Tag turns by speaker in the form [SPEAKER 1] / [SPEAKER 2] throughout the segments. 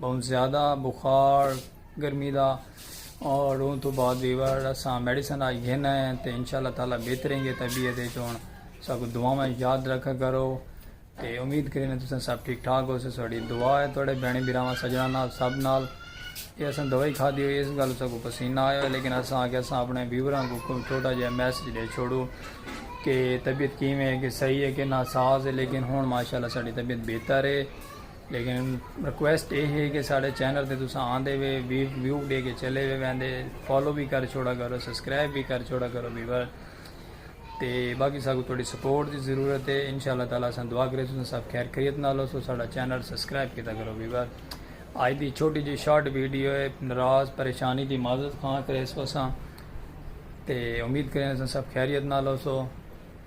[SPEAKER 1] بہوں زیادہ بخار گرمی دا اور اون تو بعد ویور اساں میڈیسن آج گھن آئے ہیں تے انشاءاللہ تعالی بہتریں گے طبیعت دے چون ساکو دعا میں یاد رکھا کرو تے امید کریں تو سن سب ٹھیک ٹھاک ہو سے سوڑی دعا ہے توڑے بینی بیراما سجنا نال سب نال یہ اساں دوائی کھا دی ہوئی اس گل ساکو پسینہ آئے ہوئے لیکن اساں آگے اساں اپنے ویوران کو کوئی چھوٹا جائے میسج دے چھوڑو کہ طبیعت کیمیں ہے کہ صحیح ہے کہ ناساز ہے لیکن ہون ماشاءاللہ ساڑی طبیعت بہتر ہے لیکن ریکویسٹ اے ہے کہ ساڈے چینل تے تساں آندے وے ویو ڈے کے چلے وے ویندے فالو وی کر چھوڑا کرو سبسکرائب وی کر چھوڑا کرو ویور تے باقی ساکو تھوڑی سپورٹ دی ضرورت ہے انشاءاللہ تعالی اساں دعا کرے تساں سب خیر خیریت نال ہو سو ساڈا چینل سبسکرائب کیتا کرو ویور آج دی چھوٹی جی شارٹ ویڈیو ہے ناراض پریشانی دی معذرت خواہ کرے سو اساں تے امید کریں اساں سب خیریت نال ہو سو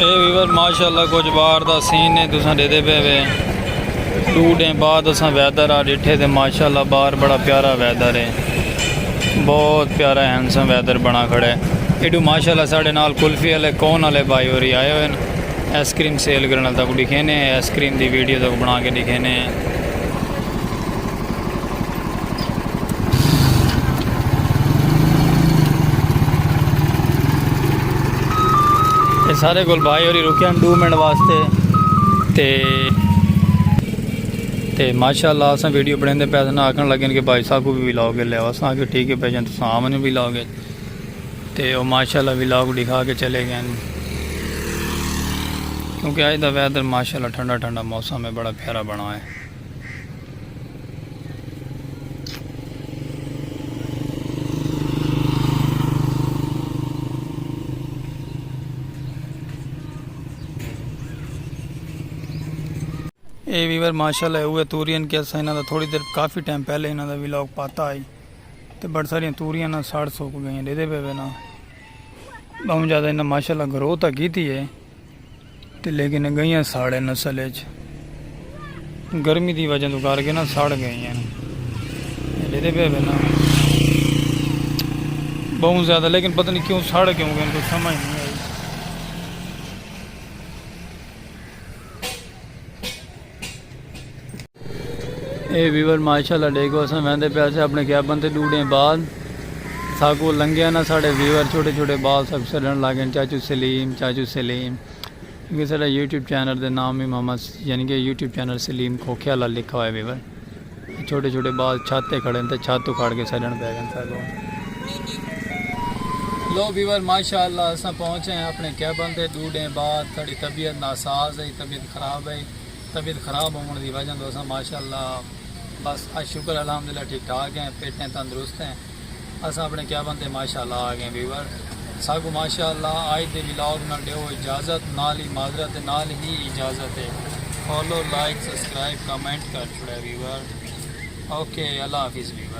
[SPEAKER 1] اے ویور ماشاءاللہ کچھ باہر دا سین نے تساں ڈیدے پے وے دو ڈیں بعد اساں ویدر آ ڈیٹھے تے ماشاءاللہ باہر بڑا پیارا ویدر ہے بہت پیارا ہینڈسم ویدر بنا کھڑے ایڈو ماشاءاللہ ساڑے نال کلفی والے کون والے بھائی ہوری آئے ہوئے ایس کریم سیل کرنا تک ڈکھینے ایس کریم دی ویڈیو تک بنا کے ڈکھینے سارے گل بھائی ہوری رکے ہیں دو منٹ واسطے تے تے ماشاءاللہ اسا ویڈیو بنائیں دے پیسے نہ آکھن لگے کہ بھائی صاحب کو بھی ولاگ لے آو اسا کہ ٹھیک ہے بھائی جان تساں آمن بھی ولاگ ہے تے او ماشاءاللہ ولاگ دکھا کے چلے گئے ہیں کیونکہ آج دا ویدر ماشاءاللہ ٹھنڈا ٹھنڈا موسم ہے بڑا پیارا بنا ہے اے ویور ماشاءاللہ اوے توریاں کے اسا انہاں دا تھوڑی دیر کافی ٹائم پہلے انہاں دا ویلاگ پاتا آئی تے بڑ ساریاں توریاں نہ ساڑ سوک گئیں دے دے پے نا بہم زیادہ انہاں ماشاءاللہ گروتھ کیتی ہے تے لیکن اگئیاں ساڑے نسل اچ گرمی دی وجہ تو کر کے نا ساڑ گئیاں جدے پہ بنا بہت زیادہ لیکن پتہ نہیں کیوں ساڑ کیوں گئے کوئی سمجھ نہیں اے ویور ماشاءاللہ ڈیکھو اساں ویندے پیا سے اپنے کیبن تے ڈو ڈے بعد ساکو لنگیا نا ساڈے ویور چھوٹے چھوٹے بال سب سڈن لاگن چاچو سلیم چاچو سلیم کیونکہ ساڈا یوٹیوب چینل دے نام ہی محمد یعنی کہ یوٹیوب چینل سلیم کھوکھے والا لکھا ہوئے ویور چھوٹے چھوٹے بال چھت تے کھڑن تے چھت اکھاڑ کے سڈن پے گن ساکوں۔ لو ویور ماشاء اللہ اساں پہنچ ہیں اپنے کیبن تے ڈو ڈینہ بعد ساڈی طبیعت ناساز ہئی طبیعت خراب ہئی طبیعت خراب ہون دی وجہ توں اساں ماشاء اللہ بس اج شکر الحمدللہ ٹھیک ٹھاک ہیں فٹ ہیں تندرست ہیں۔ اساں اپنے کیبن تے ماشاءاللہ آ گئے ویور ساکوں ماشاءاللہ آج دے ولاگ نال ڈیو اجازت نال ہی معذرت ہے نال ہی اجازت ہے فالو لائک سبسکرائب کمنٹ کر چھوڑے ویور اوکے اللہ حافظ ویور۔